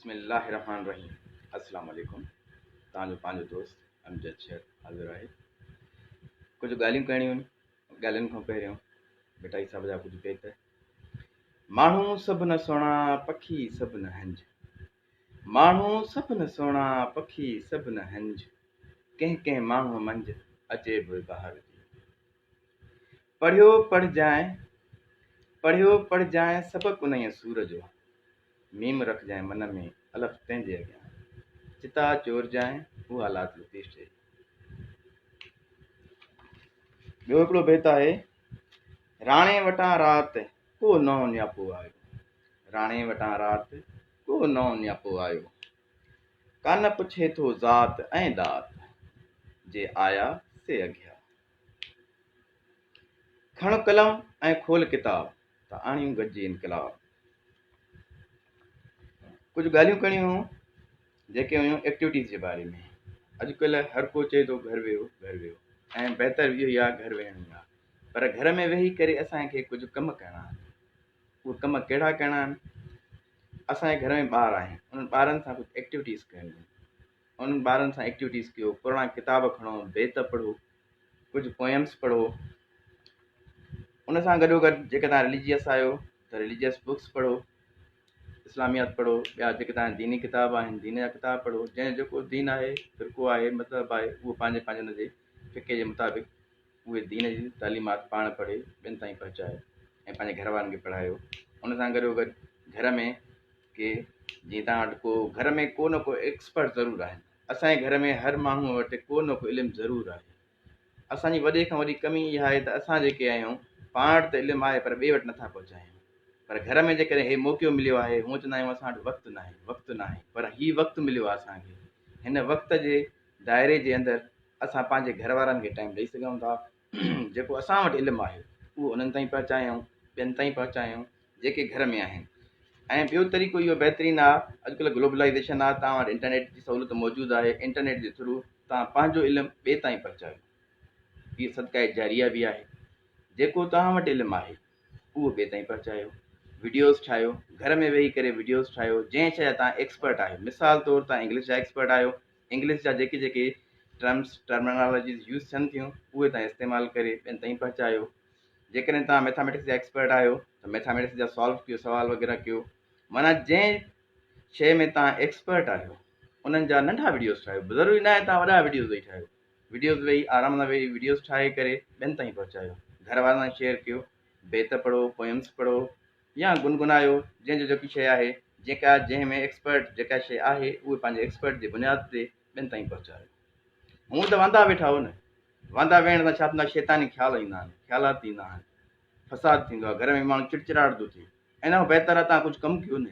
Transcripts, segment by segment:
بسم الله الرحمٰن الرحيم السلام عليڪم توهان جو پنهنجو دوست امجد شيخ حاضر آهي ڪجهه ڳالهيون ڪرڻيون آهن ڳالهين کان پهريون بٽائي صاحب جا ڪجهه بيت ماڻهو سڀ نه سهڻا پکي سڀ نه هنج ماڻهو سڀ نه سهڻا پکي سڀ نه هنج ڪنهن ڪنهن ماڻهو منجهه عجيب وهار جي پڙهيو پڙهجانء پڙهيو پڙهجانء سبق انهيء سور جو، ميم رکجانء من ۾، الف تنهن جي اڳيان، چتا چورجانء اها لات لطيف چئي. ٻيو هڪڙو بيت آهي، راڻي وٽان رات ڪو نئون نياپو آيو، راڻي وٽان رات ڪو نئون نياپو آيو، ڪانه پڇي ٿو ذات ۽ ڏات، جي آيا سي اگهيا. کڻ قلم ۽ کول ڪتاب ته آڻيون گڏجي انقلاب. ڪجهه ڳالهيون ڪرڻيون هيون جيڪي هيون ايڪٽيوٽيز جي باري ۾ اڄڪلهه هر ڪو چئي ٿو گهر ويهو گهر ويهو ۽ بهتر اهو ئي آهي گهر ويهڻ ئي آهي پر گهر ۾ ويهي ڪري اسان کي ڪجهه ڪم ڪرڻا آهن اهي ڪم ڪهڙا ڪرڻا آهن اسان جي گهر ۾ ٻار آهن انهن ٻارن سان ڪجهه ايڪٽيوٽيز ڪرڻيون انهن ٻارن سان ايڪٽيوٽيز ڪيو، پراڻا ڪتاب کڻو، بيت پڙهو، ڪجهه پوئمس پڙهو. ان سان گڏو گڏ جيڪڏهن توهان رليجيس آهيو ته رليجيس بڪس پڙهو، اسلاميات پڙهو، ٻيا جيڪي توهان ديني ڪتاب آهن دين جا ڪتاب پڙهو، جنهن جو جيڪو دين آهي، فرقو آهي، مذهب آهي اهو پنهنجي پنهنجي ان جي فقه جي مطابق اهي دين جي تعليمات پاڻ پڙهي ٻين تائين پهچايو ۽ پنهنجي گهر وارن کي پڙهايو. ان سان گڏو گڏ گهر ۾ ڪي جيئن توهان وٽ ڪو گهر ۾ ڪو نه ڪو ايڪسپرٽ ضرور آهن اسان جي گهر ۾ هر ماڻهو وٽ ڪو نه ڪو علم ضرور آهي اسان جي وڏي کان وڏي ڪمي اها آهي ته اسان جيڪي آهيون پاڻ وٽ ته علم آهي پر ٻئي وٽ نٿا پهچايون پر گهر ۾ جيڪڏهن هي موقعو مليو آهي هونء چوندا آهيون اسان وٽ وقت ناهي وقت ناهي پر هي وقت مليو آهي اسان کي هن وقت جي دائري جي اندر اسان پنهنجي گهر وارن کي ٽائيم ڏئي سگهون ٿا جيڪو اسان وٽ علم آهي اهو انهن تائين پهچايائون ٻين تائين پهچايائون جيڪي گهر ۾ آهن ۽ ٻيو طريقو اهو بهترين آهي اڄڪلهه گلوبلائيزيشن آهي توهان وٽ انٽرنيٽ جي سهولت موجود آهي انٽرنيٽ جي ٿرو توهان پنهنجو علم ٻئي تائين پهچايو هي صدقه جاريه به آهي جيڪو توهان وٽ علم آهي اهو ٻئي تائين پهچايو ويڊيوز ٺاهيو گهر ۾ ويهي ڪري ويڊيوز ٺاهيو جنهن شي جا توهان ايڪسپرٽ آهيو مثال طور توهان انگلش جا ايڪسپرٽ آهيو انگلش جا جيڪي جيڪي ٽرمس، Terminologies، يوز ٿين ٿيون، اهي توهان استعمال ڪري ٻين تائين پهچايو. جيڪڏهن توهان ميٿاميٽڪس جا ايڪسپرٽ آهيو ته ميٿاميٽڪس جا سالو ڪيو، سوال وغيره ڪيو. معنيٰ جنهن شيء ۾ توهان ايڪسپرٽ آهيو، انهن جا ننڍا وڊيوز ٺاهيو. ضروري ناهي توهان وڏا وڊيوز ويهي ٺاهيو. وڊيوز ويهي آرام سان ويهي وڊيوز ٺاهي ڪري ٻين تائين پهچايو. گهر وارن سان شيئر ڪيو. بيت پڙهو، Poems، پڙهو. يا گنگنايو جنهن جو جيڪي شيء آهي جيڪا جنهن ۾ ايڪسپرٽ جيڪا شيء آهي اهي پنهنجي ايڪسپرٽ جي بنياد تي ٻين تائين پهچايو هونء ته واندا ويٺا هو نه واندا ويهڻ سان ڇا ٿيندو آهي شيطاني خيال ايندا آهن خيالات ايندا آهن فساد ٿيندو آهي گهر ۾ ماڻهو چڙچراٽ ٿو ٿئي ان کان بهتر آهي توهان ڪجهه ڪم ڪيو نه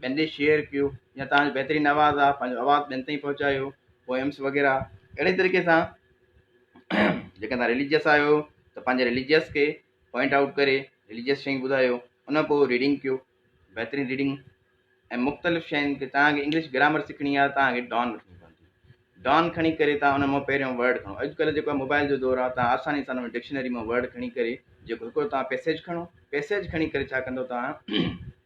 ٻين ڏي شيئر ڪيو يا تهان جو بهترين آواز آ پنهنجو آواز ٻين تائين پهچايو پوئمس وغيره اهڙي طريقي سان جيڪا تهان رليجس آهيو ته پنهنجي رليجس کي پوائنٽ آئوٽ ڪري رليجس شيئنگ ٻڌايو ان کان پوء ريڊنگ ڪيو بهترين ريڊنگ ۽ مختلف شين کي تهان کي انگلش گرامر سکڻي آ تهان کي ڊان وٺڻي پوندي ڊان کڻي ڪري تهان ان مان پهريون ورڊ کڻو اڄڪلهه جيڪو موبائل جو دور آ تهان آساني سان ان ڊڪشنري مان ورڊ کڻي ڪري جيڪو هڪڙو تهان پيسيج کڻو پيسيج کڻي ڪري ڇا ڪندو تهان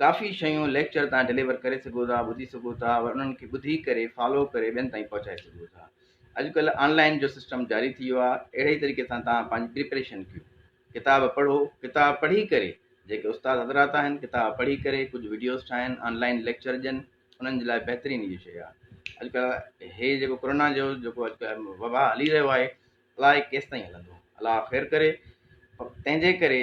ڪافي شيون ليڪچر تان ڊليور ڪري سگهو ٿا ٻڌي سگهو ٿا ور انهن کي ٻڌي ڪري فالو ڪري ٻين تائين پهچائي سگهو ٿا اڄڪلهه آن لائن جو سسٽم جاري ٿي ويو آهي اهڙي طريقي سان تان پنهنجي پريپريشن ڪيو ڪتاب پڙهو ڪتاب پڙهي ڪري جيڪي استاد حضرات آهن ڪتاب پڙهي ڪري ڪجهه وڊيوز ٺاهن آن لائن ليڪچر ڏين انهن جي لاء بهترين اهي شيء آهي اڄڪلهه هي جيڪو ڪورونا جو جيڪو اڄڪلهه وبا هلي رهيو آهي الاء ڪيسي تائين هلندو الاء خير ڪري تنهنجي ڪري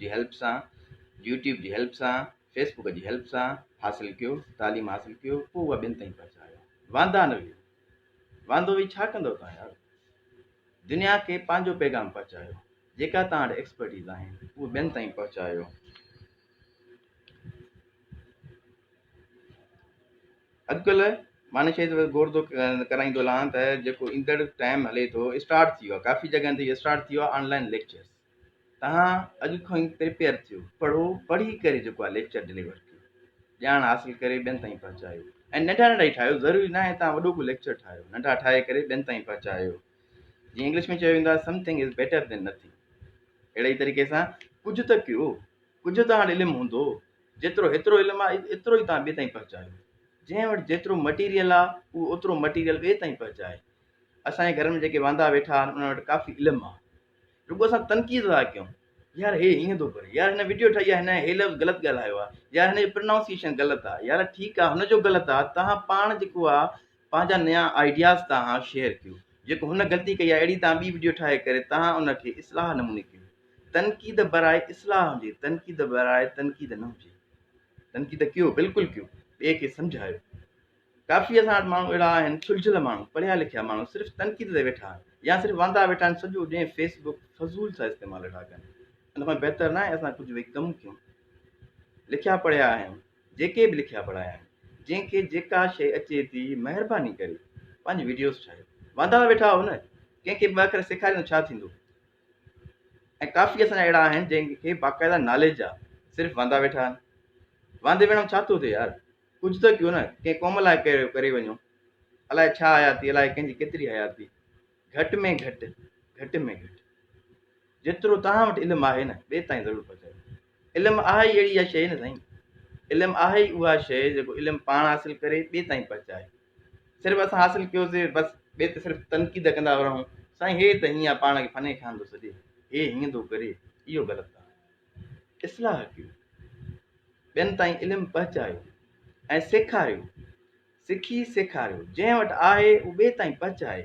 جي هيلپ سان، يوٽيوب جي هيلپ سان، فيس بوڪ جي هيلپ سان حاصل ڪيو، تعليم حاصل ڪيو پوء اها ٻين تائين پهچايو. واندا نه ويهو. واندو ويهي ڇا ڪندو تان يار. دنيا کي پنهنجو پيغام پهچايو. جيڪا تان وٽ ايڪسپرٽيز آهن اهي ٻين تائين پهچايو. اڄڪلهه مان شهيد غور ٿو ڪرائيندو لهان ته جيڪو ايندڙ ٽائيم هلي ٿو اسٽارٽ ٿي ويو آهي ڪافي جڳهن تي اسٽارٽ ٿي ويو آهي آن لائن ليڪچرز توهان اڄ کان ئي پريپيئر ٿيو، پڙهو، پڙهي ڪري جيڪو آهي ليڪچر ڊليور ڪيو، ڄاڻ حاصل ڪري ٻين تائين پهچايو ۽ ننڍا ننڍا ئي ٺاهيو، ضروري نه آهي توهان وڏو ڪو ليڪچر ٺاهيو، ننڍا ٺاهي ڪري ٻين تائين پهچايو. جيئن انگلش ۾ چيو ويندو آهي something is better than nothing. اهڙي ئي طريقي سان ڪجهه ته ڪيو، ڪجهه توهان وٽ علم هوندو، جيترو هيترو علم آهي ايترو ئي توهان ٻئي تائين پهچايو. جنهن وٽ جيترو مٽيريل آهي اهو اوترو مٽيريل ٻئي تائين پهچائي. اسان جي گهرن ۾ جيڪي واندا ويٺا آهن انهن وٽ ڪافي علم آهي. رڳو اسان تنقيد لاء ڪيون يار هي هيئن ٿو ڪري يار هن وڊيو ٺاهي آ هن هي لفظ غلط ڳالهايو آ يار هن جو پرنائونسيشن غلط آ يار ٺيڪ آ هن جو غلط آ توهان پاڻ جيڪو آ پنهنجا نيا آئيڊياز توهان شيئر ڪيو جيڪو هن غلطي ڪئي آ اهڙي توهان ٻي وڊيو ٺاهي ڪري توهان ان کي اصلاح نموني ڪيو تنقيد براء اصلاح هجي تنقيد براء تنقيد نه هجي تنقيد ڪيو بلڪل ڪيو ٻئي کي سمجهايو ڪافي اسان وٽ ماڻهو اهڙا آهن سلجهيل ماڻهو پڙهيا لکيا ماڻهو صرف تنقيد تي ويٺا آهن يا صرف واندا ويٺا آهن سڄو ڏينهن فيس بڪ فضول سان استعمال ويٺا ڪن ان کان بهتر ناهي اسان ڪجهه ويهي ڪم ڪيون لکيا پڙهيا آهيون جيڪي به لکيا پڙهايا آهن جنهن کي جيڪا شيء اچي ٿي مهرباني ڪري پنهنجي ويڊيوز ٺاهيو واندا ويٺا آهو نه ڪنهن کي ٻه اکر سيکاريندو ڇا ٿيندو ۽ ڪافي اسان جا اهڙا آهن جن کي باقاعده ناليج آهي صرف واندا ويٺا آهن واندي ويهڻ ڇا ٿو ٿئي يار ڪجهه ته ڪيو نه ڪنهن قوم لاء ڪري ڪري وڃو الاء ڇا حياتي الاء ڪنهن جي ڪيتري حياتي گهٽ ۾ گهٽ گهٽ ۾ گهٽ جيترو توهان وٽ علم آهي نه ٻئي تائين ضرور پهچايو علم آهي ئي اهڙي شيء نه سائين علم آهي ئي اها شيء جيڪو علم پاڻ حاصل ڪري ٻئي تائين پهچائي صرف اسان حاصل ڪيوسي بس ٻئي ته صرف تنقيد ڪندا رهون سائين هي ته هيئن پاڻ کي فني خان ٿو سڏي هي هيئن ٿو ڪري اهو غلط آهي اصلاح ڪيو، ٻين تائين علم پهچايو ۽ سيکاريو، سکي سيکاريو، جنهن وٽ آهي اهو ٻئي تائين پهچائي،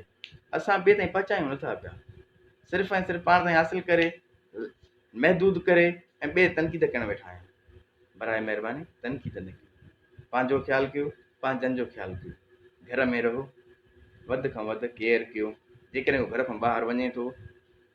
اسان ٻئي تائين پهچايون نٿا پيا، صرف ۽ صرف پاڻ تائين حاصل ڪري، محدود ڪري ۽ ٻئي تنقيد ڪرڻ ويٺا آهيون، براء مهرباني تنقيد نه ڪيو، پنهنجو خيال ڪيو، پنهنجن جو خيال ڪيو، گهر ۾ رهو، وڌ کان وڌ ڪيئر ڪيو، جيڪڏهن ڪو گهر کان ٻاهر وڃي ٿو،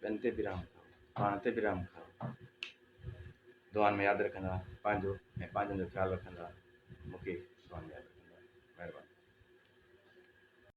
ٻين تي به رحم ڪرو، پاڻ تي به رحم ڪرو. دعائن ۾ ياد رکندا پنهنجو ۽ پنهنجن جو خيال رکندا مون کي دعائن ۾ ياد رکندا. مهرباني.